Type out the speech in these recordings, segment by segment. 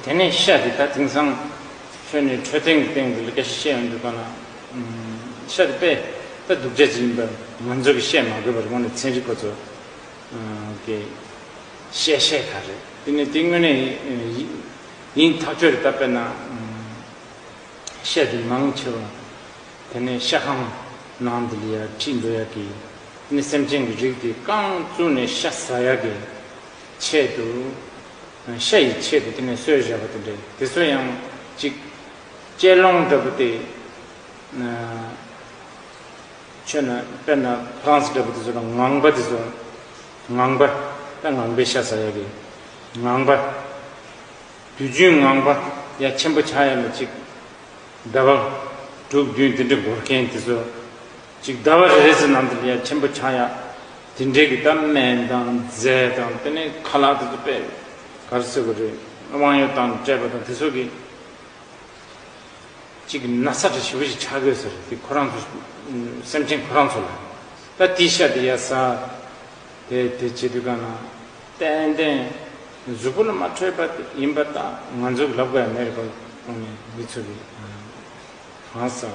དེ་ནས་ཤ་དེ་དག་དེང་སང་ཁྱོད་ནི་འཕྲོད་བསྟེན་གྱི་སྟེང་དུ་ལི་ཀ་བཤད་ཡོང་འདུག་པ་ན། ཤ་དེ་པས་ད་སྡུག་ཅག་ཅིག་ཡིན་པ་ང་ཚོ་གིས་བཤད་མ་དགོས་པར་ངོ་ནས་ཚན་རིག་པ་ཚོ་གིས་བཤད་ཤེས་ག་རེད་དེ་ནི་དེ་དངོས་གནས་ཡིན་ཐག་ཆོད་རེད་ད་དཔེར་ན། ཤ་དེ་མང་ཆེ་བ་དེ་ནི་ཤ་ཁང་ནང་དུ་ལི་ཡག་ཁྲིད་འགྲོ་ཡག་གི་དེ་ནི་སེམས་ཅན་གྱི་རིགས་དེ་རྐང་བཙུགས་ནས་ཤ་ཟ་ཡག་གི། ཆེད་དུ། ཤ་ཡི་ཆེད་དུ་དེ་ནས་གསོལ་བཞག་པ་དེ་འདྲའི་དེ་ཚོ་ཡང་ཅིག། དཔྱད་ལོང་འདྲ་པོ་དེ། ཆོས་ན་དཔེར་ན Franz འདྲ་པོ་དེ་ཚོ་ལ་ངང་པ་དེ་ཚོ། ངང་པ། དཔེར་ངང་པའི་ཤ་ཟ་ཡ་གི། ངང་པ། དུས་རྒྱུན་ངང་པ་ཡ་ཆེན་པོ་ཆགས་ཡ་ལ་ཅིག། ཟླ་བ། དྲུག་བདུན་དེ་འདྲ་འགོར་མཁན་དེ་ཚོ། ཅིག་ཟླ་བ་རེ་རེ་ཚོའི་ནང་དུ་ལིའ་ཆེན་པོ་ཆགས་ཡག་དེ་འདྲའི་གི་ད་སྨན་དང་རྫས་དང་དེ་ནས་ཁ་ལག་དེ་ཚོ་པས་གར་སོས་གི་རེད་དབང་ཡོད་དང་སྤྲད་པ་དང་དེ་ཚོ་གི་ཅིག་གི་ན་ས་གྲ་ཞིབ་པོ་ཞིག་ཆགས་དགོས་ཟེར་དེ་ཁོ་རང་ཚོ་སེམས་ཅན་ཁོ་རང་ཚོ་ལ་ད་དེ་ཤ་དེ་ཡ་ས་དེ་དེ་བྱེད་དུས་ག་ན་ཏན་ཏན་གཟུགས་པོ་ལ་མ་འཕྲོད་པ་དེ་ཡིན་པ་ད་ང་ཚོ་གི་ལབ་ག་ཡ་མེད་རེད་པ་གོང་ནས་མི་ཚོ་གི་གང་ཟག།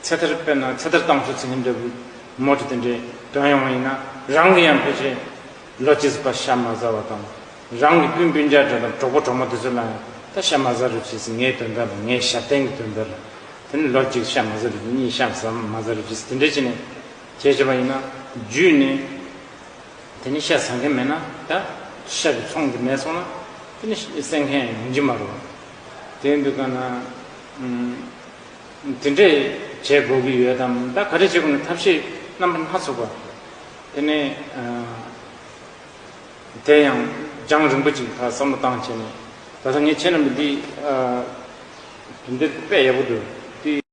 ཚེ་ཐར་དཔེར་ན་ཚེ་ཐར་བཏང་ཤོག་ཚིག་ངན་འདྲ་བུ་མོ་དེ་དེ་འདྲས་དྲངས་ཡོང་བ་ཡིན་ན་རང་གི་ཡང་ཕལ་ཆེར་ལོ་ཇི་སྲིད་པར་ཤ་མ་བཟའ་བ་དང། རང་གི་སྤུན་སྤུན་རྒྱག་འདྲ་དང་གྲོགས་པོ་གྲོགས་མོ་དེ་ཚོ་ལའང་ད་ཤ་མ་བཟའ་རུ་ཇི་སྲིད་ངའི་དོན་དག་དང་ངའི་ཞབས་བརྟན་གྱི་དོན་དག་ལ་དེ་ནི་ལོ་གཅིག་ཤ་མ་བཟའ་རུ་ཇི་གཉིས་ཤ་མ་བཟའ་རུ་ཇི་སྲིད་དེ་འདྲས་བྱས་ནས་བྱས་བྱས་པ་ཡིན་ན་རྒྱུས་ནས་དེ་ནི་ཤ་ཟ་མཁན་མེད་ན་ད་ཤ་གི་ཚོང་དེ་མེད་སོང་ན་དེ་ནི་བསད་མཁན་ཡང་ཡོང་གྱི་མ་རུང་བ་དེ་འདུག་ག་ན། དེ་འདྲས་བྱེད་དགོས་ཀྱི་ཡོད་དམ། ད་ག་རེ་བྱེད་དགོས་ནས་ཐབས་ཤེས་རྣམ་པ་སྣ་ཚོགས་པ། དེ་ནས། དེ་ཡང་རྒྱང་རིང་པོ་ཅིག་ལ་བསམ་བློ་བཏང་བྱས་ནས། ད་ལྟ་ངས་བྱས་རྣམ་པ་འདི། དེ་འདྲས་དཔེ་ཡག་པོ་འདུག་དེ།